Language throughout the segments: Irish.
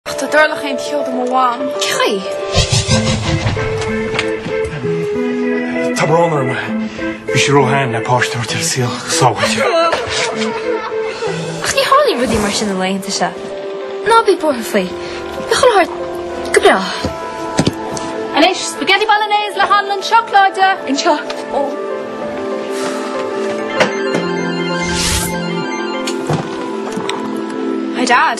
Ach do tharlódh aon cheo do mo mham. OK. Tá brón orm. Bhí sí ró-shean le páiste a thabhairt ar an saol go sábháilte. Ach ní tharlaíonn rudaí mar sin na laethanta seo. Ná bí buartha faoi. Beidh an t-ádh ort go brách. Anois, spaghetti bolognese le hanlann seacláide! Anseo. Ó. Hi Dad.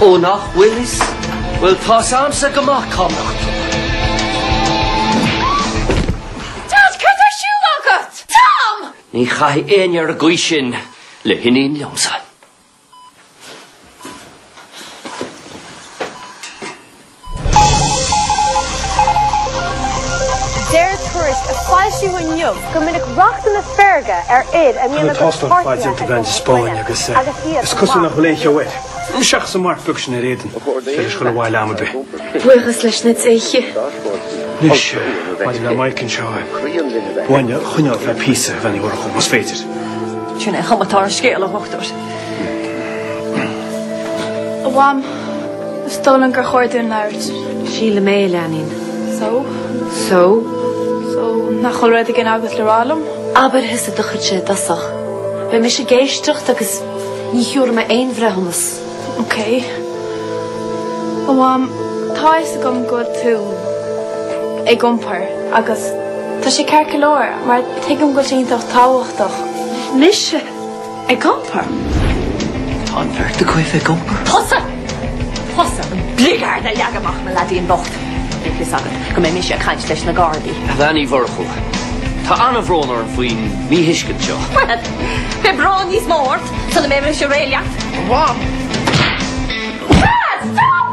Ó nach bhfuil is, bhuel, tá's a'msa go maith cá mbeadh tú. Dad, cad tá ar siúl agat? Tom! Ní chaithfidh éinne ar an gcaoi sin le hiníon liomsa. Deir tuairisc a foilsíodh inniu go minic rachtanna feirge ar fhir a mbíonn a gcuid páirtnéirí ag dul chun baile agus iad ag fanacht. Is cosúil nach bhfuil aon cheo air. Seachas an marc beag sin ar éadan, is féidir leis dul abhaile am ar bith. Buíochas leis na déithe. Anois, maidir le Mike anseo, b'fhearr é a choinneáil thar oíche, bheinn buartha, más féidir. Sin é chaoi a bhfuil an scéal, a dhochtúir. A Mham, is dóigh liom gur chóir dúinn labhairt. Sílim é, a leanaín. So? So? So, nach bhfuil rud éigin agat le rá liom? Abair thusa, do chuidse i dtosach. Beidh mise ag éisteacht agus ní thabharfaidh mé aon bhreithiúnas. OK. A Mham, tá a fhios agam go bhfuil tú ag iompar agus tá sé ceart go leor mar tuigim go bhfuil sé iontach tábhachtach. Mise? Ag iompar? Tá an bheirt agaibh ag iompar? Tusa! Tusa, an bligeard a leag amach mo leadaín bocht! Bíodh fhios agat go mbeidh mise ag caint leis na gardaí. A Bhean Uí Mhurchú, tá an-bhrón orm faoin míthuiscint seo. Bhuel, beidh brón níos mó ort sula mbeidh mise réidh leat. A Mham! Dad, stop!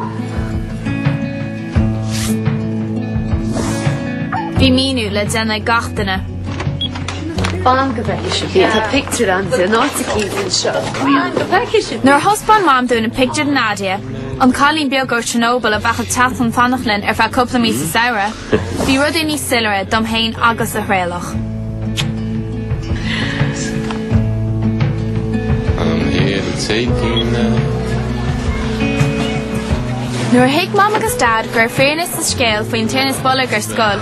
Bhí míniú le déanamh ag gach duine. Fan go bhfeice sibh í, tá pictiúr ann di, in áit eicínt anseo. Fan go bhfeice sibh í! Nuair a thaispeáin Mam dúinn an pictiúr de Nadia, an cailín beag ó Chernobyl a bheadh ag teacht chun fanacht linn ar feadh cúpla mí sa samhradh, bhí rudaí níos soiléire dom féin agus do Thraolach. Nuair a thuig Mam agus Dad go raibh fírinne sa scéal faoin tinneas boilg ar scoil,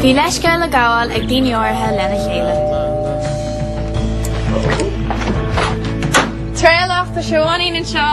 Bhí leithscéal le gabháil ag daoine áirithe lena chéile. Traolach do Sheoanín anseo.